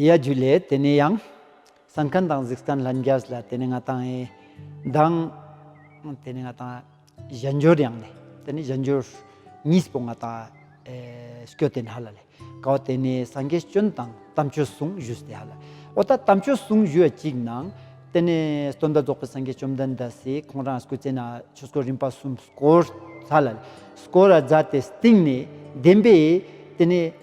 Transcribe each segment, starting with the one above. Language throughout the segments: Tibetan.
ཡ་རྒྱུ་ལས་དེ་ནས་ཡང། ས་མཁན་དང་གཟིགས་སྟན་ལྷན་རྒྱས་ལ་དེ་ནས་ང་དང་ཨེ། དང། དེ་ནས་ང་དང་གཞན་འགྱུར་ཡང་ནས་དེ་ནས་གཞན་འགྱུར། གཉིས་པོ་ང་དང་ཨེ། སྐྱོ་སྟེ་ནཱ་ལ་ལས་དགའ་བ་དེ་ནས་སངས་རྒྱས་སྤྱོན་དང་དམ་ཆོས་གསུང་བཞུད་སྟེ་ཧ་ལ། འོ་ད་དམ་ཆོས་གསུང་བཞུད་ཡ་གཅིག་ན། དེ་ནས་སྟོན་ཟླ་རྫོགས་པའི་སངས་རྒྱས་བཅོམ་ལྡན་འདས་སི་ཁོང་རང་སྐུ་རྩེ་ན་ཆོས་སྐོར་རིམ་པ་གསུམ་བསྐོར། ཧ་ལ་ལས། སྐོར་ར་བཛྲ་སྟེ་སྟེང་ནས་བདེན་པས་དེ་ནས།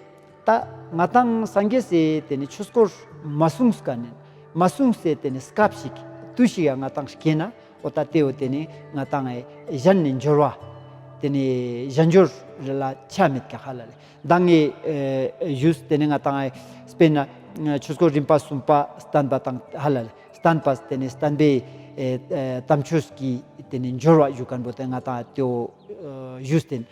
ད་ང་དང་སངས་རྒྱས་སེ་དེ་ནི་ཆོས་སྐོར་མ་གསུངས་ཀ་ནི་མ་གསུངས་སེ་དེ་ནི་སྐབས་ཤིག་དུས་ཤིག་ཡང་ང་དང་སྐྱེས་ན་འོ་ད་དེའོ་དེ་ནི་ང་དང་གཞན་ནི་འབྱོར་བ་དེ་ནི་གཞན་འབྱོར་རེ་ལ་ཆ་མེད་ཀ་ཧ་ལ་ལས་མདང་ངས་བཞུགས་དེ་ནི་ང་དང་སྤེན་ན་ཆོས་སྐོར་རིམ་པ་གསུམ་པ་བསྟན་པ་དང་ཧ་ལ་ལས་བསྟན་པ་དེ་ནི་བསྟན་པའི་དམ་ཆོས་ཀྱིས་དེ་ནི་འབྱོར་བ་བཞུགས་ཀ་འོ་དེ་ང་དང་དེའོ་བཞུགས་དེ་ནི།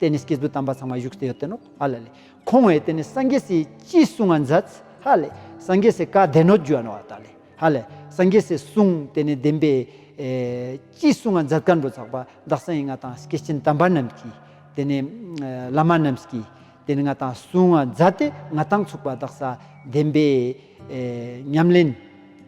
དེ་ནི་སྐྱེས་བུ་དམ་པ་ཚང་མ་བཞུགས་སྟེ་ཡོད་དེ་ནོ། ཧ་ལ་ལས། ཁོང་བས་དེ་ནི་སངས་རྒྱས་སུ་ཅི་གསུང་བ་མཛད། ཧ་ལས། སངས་རྒྱས་སུ་བཀའ་བདེན་ནོ་རྒྱུ་བ་ནོ། ད་ལས། ཧ་ལས། སངས་རྒྱས་སུ་གསུང་དེ་ནི་བདེན་པས། ཅི་གསུང་བ་མཛད་བཀའ་འགྲོ་ཚོགས་པ་བདག་སངས་ཡིན་ང་དང་སྐྱེས་ཆེན་དམ་པ་རྣམས་ཀྱིས། དེ་ནི། བླ་མ་རྣམས་ཀྱིས། དེ་ནི་ང་དང་གསུང་བ་མཛད་དེ་ང་དང་ཚོགས་པ་བདག་སངས་བདེན་པས། ཉམས་ལེན།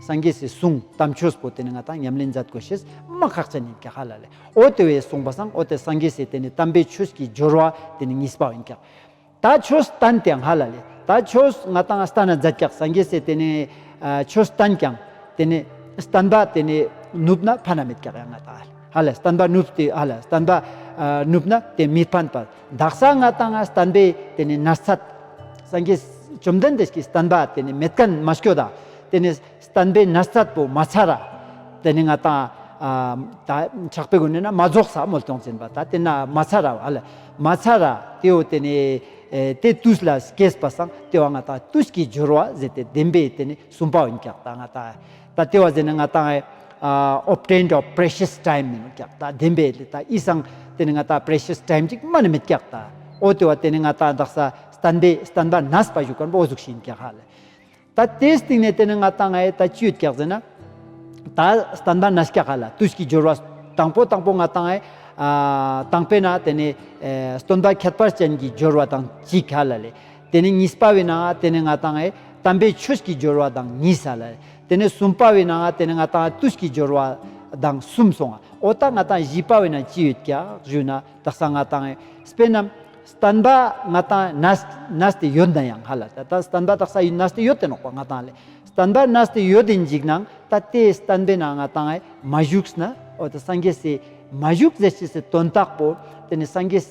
སངས་རྒྱས་སུ་གསུང་དམ་ཆོས་པོ་དེ་ནི་ང་དང་ཉམས་ལེན་མཛད་དགོས་ཞེས་སྨྲ་ཁག་ཅན་ཡིན་ཀྱང་ཧ་ལ་ལས་ཨོ་དེ་བས་གསུངས་པ་སངས་ཨོ་དེ་སངས་རྒྱས་སུ་དེ་ནི་དམ་པའི་ཆོས་ཀྱི་སྦྱོར་བ་དེ་ནི་གཉིས་པ་ཡིན་ཀྱང། ད་ཆོས་བསྟན་ཏེ་ང་ལ་ལས་ད་ཆོས་ང་དང་བསྟན་ན་མཛད་ཀྱང་སངས་རྒྱས་སུ་དེ་ནི་ཆོས་བསྟན་ཀྱང་དེ་ནི་བསྟན་པ་དེ་ནི་ནུབ་ན་ཕན་ན་མེད་ཀྱང་ཡང་ང་དང་ཧ་ལས་བསྟན་པ་ནུབ་སྟེ་ཧ་ལས་བསྟན་པ་ནུབ་ན་དེ་མི་ཕན་པར་བདག་ས་ང་དང་ང་བསྟན་པས་དེ་ནི་ན་ཚ། སངས་རྒྱས་བཅོམ་ལྡན་འདས་ཀྱིས་བསྟན་པ་དེ་ནི་མི་བསྟན་མ་སྐྱོ་ད། དེ་ནི་བསྟན་པས་ན་ཚ་པོ་མ་ཚ་ར། དེ་ནི་ང་དང། ད། ཆགས་པའི་སྒོ་ནས་ན་མ་རྫོགས་ས་མོལ་སྟོང་འཛིན་པ་ད་དེ་ན་མ་ཚ་ར་བ་ལ། མ་ཚ་ར་དེའོ་དེ་ནི། དེ་ཏུས་ལ་སྐྱེས་པ་སངས་ཏེ་བ་ང་དང་ཏུས་ཀྱི་སྦྱོར་བ་ཟད་དེ་བདེན་པས་དེ་ནི་གསུམ་པའོ་འགགས་ད་ང་དང། ད་ལྟེ་བ་ཟེར་ནི་ང་ཏང obtained of precious time མིན་ནོ་ཀྱག་ལྟ་བདེན་པའི་ལི་ཏ་ཨི་སང་དེ་ནི་ང་ཏང precious time གཅིག་སྨྲ་ནི་མི་ཀྱག་ལྟ་ཨོ་ལྟེ་བ་དེ་ནི་ང་ཏང་བདག་ས་སྟན་པའི་སྟན་པ་ནས་པ་བཞུགས་ཀར་པོ་གཟུགས་བཞིན་ཀྱག་ཧ་ལས་ད་ལྟེ་སྟིང་ནས་དེ་ནི་ང་ཏང་ཨའི་ད་ཅུད་ཀྱག་ཟེར་ན་ད་སྟན་པ་ནས་ཀྱག་ཧ་ལ་དུས་ཀྱི་སྦྱོར་བ་དང་པོ་དང་པོ་ང་ཏང་ཨའི་དང་པེ་ན་དེ་ནི་སྟོན་པ་ཁྱད་པར་ཅན་གྱི་སྦྱོར་བ་དང་གཅིག་ཧ་ལ་ལས། དེ་ནས་གཉིས་པ་བས་ན་དེ་ནི་ང་དང་དམ་པའི་ཆོས་ཀྱི་སྦྱོར་བ་དང་གཉིས་སོ། དེ་ནས་གསུམ་པ་བས་ན་དེ་ནི་ང་དང་ལྟོས་ཀྱི་སྦྱོར་བ་དང་གསུམ་སོ། ཨོ་ད་ང་དང་བཞི་པ་བས་ན་ཅི་ཡོད་ཀྱི་ཞུས་ན་དག་སང་ང་དང་སྤེན་ནམ་སྟན་པ་ང་དང་ན་སྟེ་ཡོད་ན་ཡང་ཧ་ལ་ད་ད་སྟན་པ་དག་ས་ཡིན་ན་སྟེ་ཡོད་དེ་ནོག་པ་ང་དང་ལས་སྟན་པ་ན་སྟེ་ཡོད་དེ་འཇིག་ན་ད་དེ་སྟན་པས་ན་ང་དང་མ་བཞུགས་ན་ཨོ་ད་སངས་རྒྱས་སས་མ་བཞུགས་ཟེར་ཅི་སེ་དོན་དག་པོ་དེ་ནི་སངས་རྒྱས།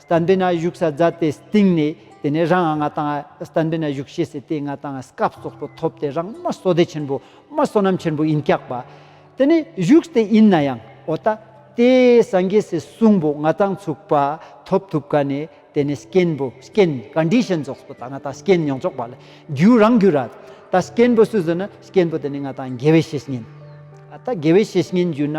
སྟན་པའི་ན་གཞུག་ས་བརྫ་དེ་སྟེང་ནས་དེ་ནས་རང་ང་དང་སྟན་པའི་ན་གཞུག་ཤེས་སེ་དེའི་ང་དང་སྐབས་སོགས་སུ་ཐོབ་སྟེ་རང་སྨྲ་བསོ་བདེ་ཆེན་པོ་སྨྲ་བསོད་ནམས་ཆེན་པོ་ཡིན་སྐྱག་པ། དེ་ནས་གཞུག་དེ་ཡིན་ན་ཡང་ཨོ་ད་ཏེ་སངས་རྒྱས་སུ་གསུངས་པོ་ང་དང་ཚུགས་པ་ཐོབ་ཐུབ་ག་ནས་དེ་ནས་སྐྱེན་པོ་སྐྱེན Condition སོགས་སུ་ད་ང་དང་སྐྱེན་མྱོང་ཆོག་པ་ལ་རྒྱུ་རང་རྒྱུ་ར་ད་སྐྱེན་པོ་སུ་བཟོད་ན་སྐྱེན་པོ་དེ་ནས་ང་དང་དགེ་བའི་བཤེས་གཉེན་ཨ་ད་དགེ་བའི་བཤེས་གཉེན་རྒྱུ་ན།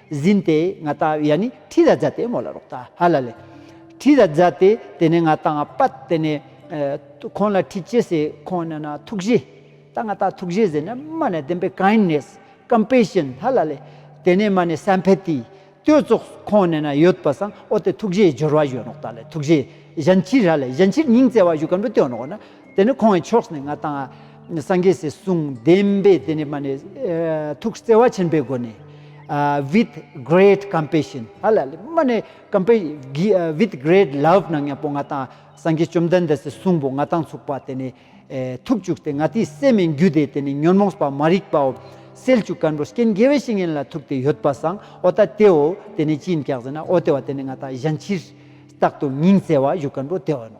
ཟིན་ཏེ་ང་ལྟ་བའི་ཡ་ནི་ཁྲི་ར་ཛ་ཏེ་མོ་ལ་རོག་ལྟ་ཧ་ལ་ལེ། ཁྲི་ར་ཛ་ཏེ་དེ་ནས་ང་ལྟ་ང་པ་དེ་ནས། ཁོང་ལ་ཁྲི་ཅེ་སེ་ཁོང་ནས་ན་ཐུགས་རྗེ། ལྟ་ང་ལྟ་ཐུགས་རྗེ་ཟེར་ནས་མ་ནས་བདེན་པའི kindness compassion ཧ་ལ་ལེ། དེ་ནས་མ་ནས sympathy བསྟོད་ཚོགས་ཁོང་ནས་ན་ཡོད་པ་སང་ཨོ་དེ་ཐུགས་རྗེའི་སྦྱོར་བ་གཞོན་ནོག་ལྟ་ལེ་ཐུགས་རྗེ། གཞན་ཕྱིར་ཧ་ལེ་གཞན་ཕྱིར་སྙིང་བརྩེ་བ་བཞུགས་ཀ་འགྲོ་སྟོན་ནོག་ན། དེ་ནས་ཁོང་གི་ཕྱོགས་ནས་ང་དང། སངས་རྒྱས་སྲས་སྲུང་བདེན་པས་དེ་ནས་མ་ནས། ཐུགས་བརྩེ་བ་ཆེན་པོའི་སྒོ་ནས། With great compassion Hallelujah མ་ནས With great love ནང་ཡང་པོ་ང་དང་སངས་རྒྱས་བཅོམ་ལྡན་འདས་སྲས་སྲུང་པོ་ང་དང་ཚུགས་པ་དེ་ནས། ཐུགས་བཅུག་སྟེ་ང་དེའི་སྲས་མིན་རྒྱུ་དེས་དེ་ནས་ཉོན་མོངས་པ་མ་རིག་པའོ། སེལ་བཅུག་ཀན་པོ་སྐྱེ་འགྱེད་བའི་བཤེས་གཉེན་ལ་ཐུགས་དེ་ཡོད་པ་སངས་ཨོ་ད་དེའོ་དེ་ནས་ཅི་ཡིན་སྐྱག་ཟེར་ན་ཨོ་དེ་བ་དེ་ནས་ང་དང་གཞན་ཕྱིར། རྟག་ཏུ་སྙིང་བརྩེ་བ་བཞུགས་ཀན་པོ་དེ་བ་ནོ།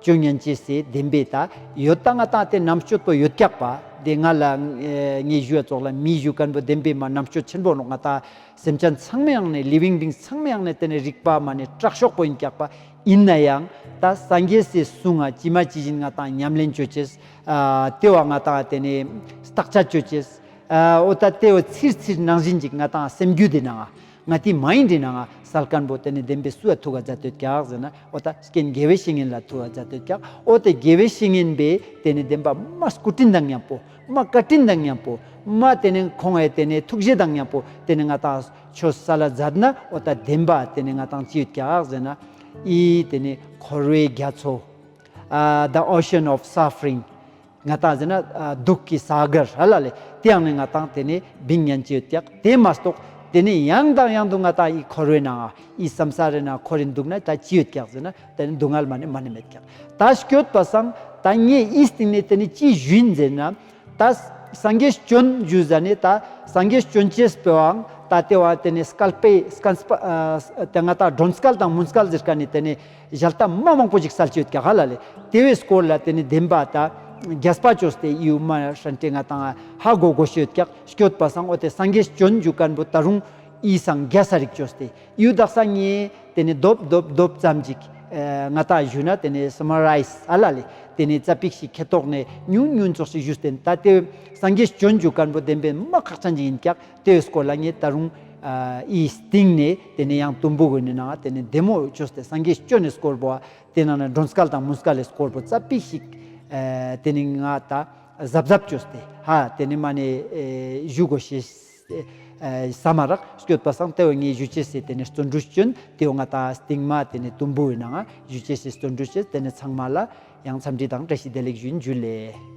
བཅུ་སྙན་ཅེས་སའི་བདེན་པའི་ད་ཡོད་རྟགས་ལྔ་རྟགས་དེ་རྣམ་གཅོད་དོ་ཡོད་སྐྱག་པ་དེ་ང་ལ་ངའི་གཞུ་བ་ཙོག་ལ་མིའི་གཞུ་དཀར་པོ་བདེན་པའི་མ་རྣམ་གཅོད་ཆེན་པོ་ང་རྟགས་སེམས་ཅན་ཚང་མའི་ཡང་ནས living beings ཚང་མའི་ཡང་ནས་དེ་ནས་རིག་པ་མ་ནས་སྐྲག་ཤོག་པོ་ཡིན་སྐྱག་པ་ཡིན་ན་ཡང་ད་སངས་རྒྱས་སའི་གསུང་ང་ཅི་མ་ཇི་བཞིན་ང་རྟགས་ཉམས་ལེན་གཅོད་ཅེས་ལྟེ་བ་ང་རྟགས་དེ་ནས་རྟགས་ཆ་གཅོད་ཅེས་ཨོ་ད་ལྟེ་བ་ཚིར་ཚིར་ནང་བཞིན་ཅིག་ང་རྟགས་སེམས་རྒྱུད་དེ་ནང་ང་དེ་མ་ཡིན་དྲིས་ན་ང་སཱལ་དཀར་འབོ་དེ་ནས་བདེན་པའི་སུ་ཡ་ཐུག་ག་རྫ་སྟོད་སྐྱག་ཟེར་ན་ཨོ་ད་ཀན་དགེ་བའི་བཤེས་ངན་ལ་ཐུག་ག་རྫ་སྟོད་སྐྱག་ཨོ་དེ་དགེ་བའི་བཤེས་ངན་པས་དེ་ནས་བདེན་པ་མ་སྐུ་སྤྲིན་དང་མཉམ་པོ་མ་བཀའ་སྤྲིན་དང་མཉམ་པོ་མ་དེ་ནས་ཁོང་བས་དེ་ནས་ཐུགས་བཞེད་དང་མཉམ་པོ་དེ་ནས་ང་དང་ཆོ་ས་ལ་རྫ་ན་ཨོ་ད་བདེན་པ་དེ་ནས་ང་དང་ཅི་ཡོད་སྐྱག་ཟེར་ན་ཨི་དེ་ནས་འཁོར་བའི་རྒྱ་མཚོ་ཨ The Ocean of Suffering། ང་དང་བཟི་ན་སྡུག་གི་ས་ག་ར་ལ་ལས་དེ་ཡང་ནི་ང་དང་དེ་ནི་བིང་སྙན་བཅས་བཏགས་དེ་མ་གཏོགས་དེ་ནི་ཡང་དང་ཡང་དུ་ང་དང་ཡི་འཁོར་བས་ན་ཡི་བསམ་ས་རེ་ན་འཁོར་རེ་འདུག་ན་ད་ཅི་ཡོད་ཀྱག་བཟི་ན་དེ་ནི་སྡུག་བསྔལ་མ་ནི་མ་ནི་མེད་ཀྱག་ད་སྐྱོད་པ་སང་ད་ངས་ཡི་སྟེང་ནས་དེ་ནི་ཅི་བཞུད་མཛད་ན་ད་སང་གས་སྐྱོན་བཞུད་ས་ནི་ད་སང་གས་སྐྱོན་བཅས་སྤེལ་བའང་ད་དེ་བ་དེ་ནི་སྐལ་པས་སྐལ་དེ་ང་དང་སྒྲོན་སྐལ་དང་མུན་སྐལ་བཟིར་ཀ་ནི་དེ་ནི། གཞལ་བཏབ་མ་མང་པོ་ཞིག་གསལ་བྱེད་ག་ག་ལ་ལས་དེ་བས་སྐོར་ལ་དེ་ནི་བདེན་པ་ད་རྒྱས་སྤ་ཅོ་སྟེ་ཡིའུ་མ་ཧྲན་ཏེ་ང་དང་ཧ་གོ་གོ་བཤོད་ཀྱག་བཤོད་པ་སང་ཨོ་དེ་སངས་རྒྱས་སྤྱོད་འཇུག་སྐལ་པོ་ད་རུང་ཡིས་སངས་རྒྱས་ས་རིག་ཅོ་སྟེ་ཡིའུ་དག་ས་ངེ་དེ་ནི་རྡོབ་རྡོབ་རྡོབ་ཙམ་ཅིག་ང་དག་བཞུད་ན་དེ་ནི Summarize ཨ་ལ་ལས་དེ་ནི་རྩ་པིག་ཞིག་ཁེ་ཏོག་ནས་ཉུང་ཉུང་ཙོག་ཞིག་བཞུད་སྟེ་ད་དེ་བས་སངས་རྒྱས་སྤྱོད་འཇུག་སྐལ་པོ་བདེན་པའི་མ་ཁག་ཅན་ཅིག་ཡིན་ཀྱག་ལྟོས་སྐོར་ལ་ངས་ད་རུང། ཨིའི་སྟེང་ནས་དེ་ནས་ཡང་དུམ་བུ་འོད་ནས་ནང་དེ་ནས་བདེ་མོ་ཅོས་ཏེ་སངས་རྒྱས་སྤྱོད་ནས་སྐོར་བོ། དེ་ནང་ནས་སྒྲོན་སྐལ་དང་མུན་སྐལ་ལས་སྐོར་བོ་རྩ་པིག་ཤིག། དེ་ནས་ང་ད་གཟབ་གཟབ་ཅོས་ཏེ་ཧ་དེ་ནས་མ་ནས་བཞུགས་གོ་ཞེས། ས་མ་རག་བསྐྱོད་པ་སང་ལྟོས་ངས་བཞུགས་བྱས་སེ་དེ་ནས་བརྩོན་འགྲུས་སྤྱོད་དེའོ་ང་ད་སྟེང་མ་དེ་ནས་དུམ་བུ་འོད་ནང་བཞུགས་བྱས་སེ་བརྩོན་འགྲུས་བྱས་དེ་ནས་ཚང་མ་ལ་ཡང་འཚམས་འདྲི་དང་བཀྲ་ཤིས་བདེ་ལེགས་ཞུ་རྒྱུ་ལས།